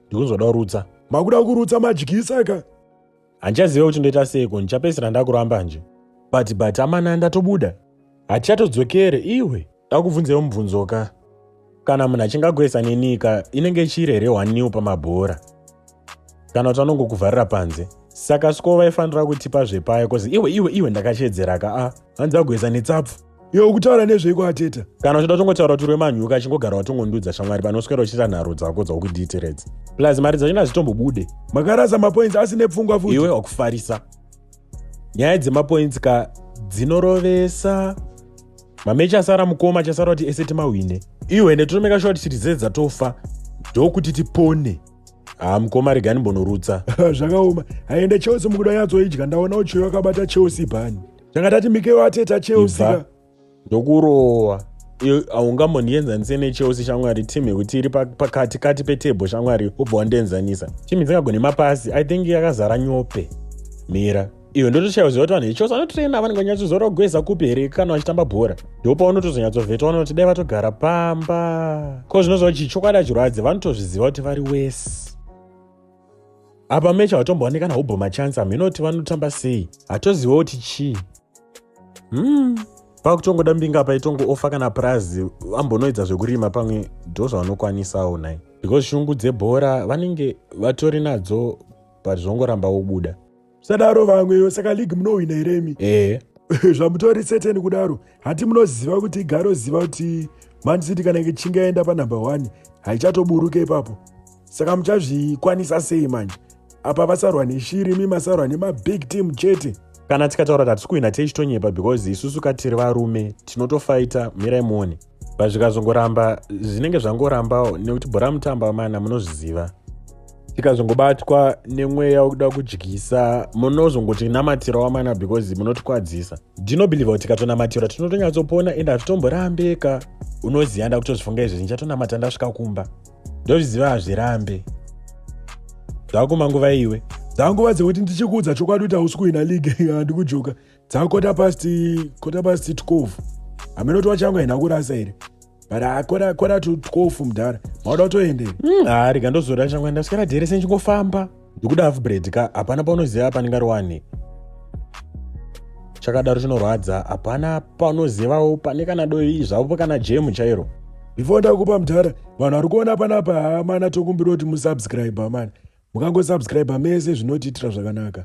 ndikunzwada kurutsa makuda kurutsa madyisa ka handichaziva kuti ndoita seiko ndichapedzisira ndakuramba nje but but amana ndatobuda hatichatodzokere iwe ndakubvunzewo mubvunzo ka kana munhu achinge agoesa nenika inenge ichiri here hwaniwo pamabhora kana kuti anongokuvharira panze saka siko vaifanira kutipa zvepayo kozi iwe iwe iwe ndakachedzera ka a hanzi agoesa netsapfu Yo ukutaura nezvei kwateta? Kana uchida tongotaura kuti remanyuka achingogara watongondudza shamwari panoswera uchita nharo dzako dzaukudhiitiredza. Plus mari dzacho nazitombobude. Makarasa mapoints asine pfungwa futi. Iwe wakufarisa. Nyaya dzemapoints ka dzinorovesa. Mamechi asara mukoma achasara kuti ese timahwine. Iwe netotomeka short shiri dzese dzatofa ndokuti tipone. Ah mukoma regani mbonorutsa. Zvakaoma. Haende Chelsea mukuda yatsoidya ndaona uchiyo akabata Chelsea bani. tanga tati mikeyo ateta chelsea ndokurowa haungamonienzanise nechelsea shamwari team yekuti iri pakati kati petebho shamwari ubva wandienzanisa team dzingagone mapasi i think yakazara nyope mira iyo ndotoshaiwa ziva kuti vanhu vechose vanotraina vanenge vanyatsozora kugweza kupi here kana vachitamba bhora ndopaunotozonyatsovhetwa unoti dai vatogara pamba ko zvinozova chii chokwadi achirwadzi vanotozviziva kuti vari wese apa mecha watombooneka nahubho machansa mhinoti vanotamba sei hatoziva kuti chii hmm pakutongoda mbinga apa itongo ofa kana purazi vambonoedza zvekurima pamwe ndo zvavanokwanisawo nai because shungu dzebhora vanenge vatori nadzo but zvongoramba wobuda sadaro vamwewo saka league munohwina here imi ehe zvamutori certain kudaro hati munoziva kuti igaroziva kuti man city kana ichinge yaenda panumber one haichatoburuke ipapo saka muchazvikwanisa sei manje apa vasarwa neshiri imi masarwa nemabig team chete kana tikataura kuti hatisi kuhwina teichitonyepa because isusu katiri varume tinotofaita mirai muone but zvikazongoramba zvinenge zvangorambawo nekuti bhora mutamba amana munozviziva tikazongobatwa nemweya wekuda kudyisa munozongotinamatirwa wamana because munotikwadzisa ndinobelieve kuti tikatonamatirwa tinotonyatsopona ende hatitomborambeka unoziva nda kutozvifunga izvezvi ndichatonamata ndasvika kumba ndozviziva hazvirambe zvakuma nguva iwe dzanguva dzekuti ndichikuudza chokwadi kuti hausi kuhwina league handikujoka dzakota past kota past 12 hameno kuti wachangu haina kurasa here but akora kora to 12 mudhara mauda kutoende hmm, haa rega ndozora changu enda sikana dhere senchingofamba ndikuda half bread ka hapana paunoziva apa ndingari wani chakadaro chinorwadza hapana paunozivawo pane kana doi zvavo kana jemu chairo before ndakupa mudhara vanhu vari kuona panapa hamana tokumbira kuti musubscribe amana mukangosubscribe mese zvinotiitira zvakanaka